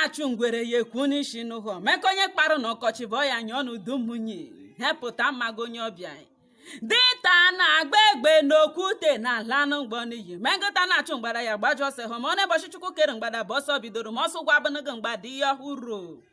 achụ ngwere ya ekwu n'isi n'ụhọ meka onye kparụ na ọkọchị bụ ya nyụọ n'udu mmiri hepụta mmaga onye ọbịa dinta na-agba egbe n'okwute na-ala mgbọ n'iyi ma nkịta na-achụ mgbada ya gbajụ ọsọ ahụ ma ọ na ụbọchị chukwu kere mgbada bụ ọsọ bidoro ma ọsọ ụgwọ abụnụgụ mgbada ihe ọhụrụ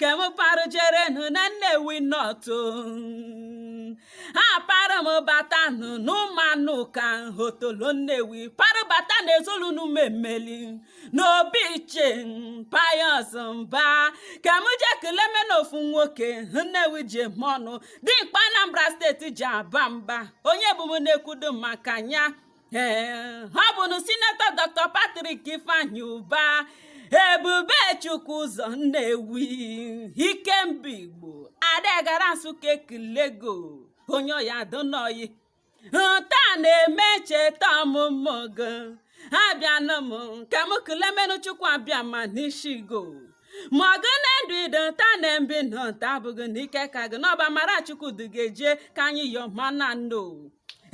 ka m parụjerenụ na Nnewi North ha para m batanụ n'Ụmụanụka Otolo Nnewi para bata na ezolunu mmemmeli n'obi Ichie Pius mba ka m je keleme n'ofu nwoke Nnewi ji eme ọnụ dimkpa Anambra steeti ji aba mba onye bụ m na-ekwudo maka ya ee ọ bụnụ sinetọ dr patrick ifeanyi ụba ebube chukwu ụzọ nnewi ikemba igbo adagara nsụka ekele gị onye ọ ya-adụnụ ọyị nta na-eme ncheta ọmụmụ gị abịanụ m ka m kelemenụ chukwu abịama n'ishi gị ma ọ gị na ndụ ị dụ nta na mbe ị nọ nta abụghị n'ike aka gị na ọ bụ amara chukwu dugeje ka anyị yọma na nno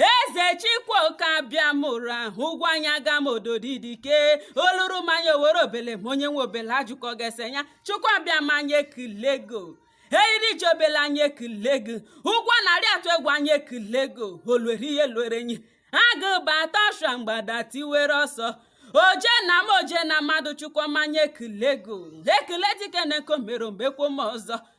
eze chikwoke abịamụra ụgwọ anya ga m ododidike oluru mmanya owere obele ma onye nwe obele ajụkọ gị ese ya chukwu abịama anyị ekele gị eriri ji obele anyị ekele gị ugwu a na-arị atụ egwu anyị ekele gị o lwere ihe lwere enyi agụ bata ọsha mgbada tiwere ọsọ oje na mmụọ oje na mmadụ chukwu m anyị ekele gị e kele dike na nke o mere o mekwo ọzọ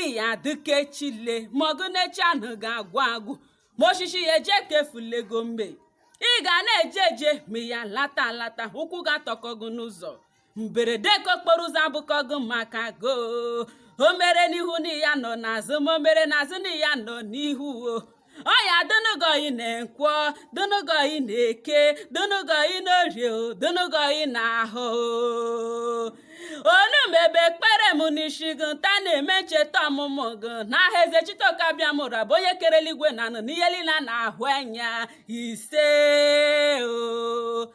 ị ya-adị ka echi le ma ọgụ na echi anụgụ agwụ agwụ ma osisi ya eje ka efulego mgbe ị ga na-eje eje ma ị ya-alata alata ụkwụ gị atọkọ gị n'ụzọ mberede nke okporo ụzọ abụkọ gị maka go o mere n'ihu na ị ya-anọ n'azụ ma o mere n'azụ na ị ya-anọ n'ihu o ọ ya-adụnụ gị ọyị na nkwọ dụnụ gị ọyị na eke dụnụ gị ọyị n'orie dụnụ gị ọyị na ahọ olumebe ekpere m n'isi gị nta na-eme ncheta ọmụmụ gị n'aha eze chitoke abịamụra bụ onye kere eluigwe na anị n'ihe niile na-ahụ anya ise o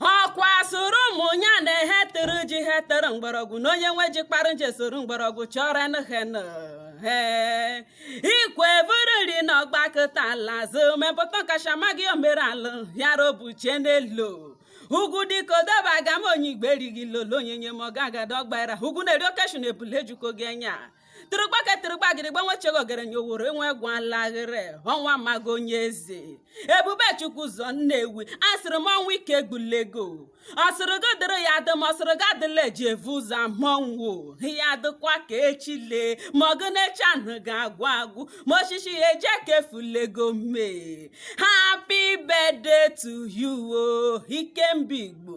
ọkwa sịrị ụmụ ya na he tụrụ ji he tụrụ mgbọrọgwụ na onye nwe ji kparụ ji e soro mgbọrọgwụ chọrọ nụhenụ ikwe buru nri na ọ gbakụta ala azụ mepụta kachama gị o mere alụ yara obuchie n'elu ugwu dịka odobe agama onye igbe erighị lolo onyenye m ọgagada ọgbara ugwu na-eri oke eshu na ebule ejukọ gị anya tụrụgba ka tụrụgba gịrịgba nwechego ogerenye oworo enwe gwalaghịrị ọnwa mago onye eze ebubechukwuzọ nnewi asịrị m ọnwa ike gbulego ọ sịrị gị dịrị ya adị ma ọ sịrị gị adịla eji evu ụzọ mọnwụ ya dịkwa ka echi lee ma ọ bụ na echi anụ ga-agwụ agwụ ma osisi ya eje ka efulego mee happy birthday to you o ikemba igbo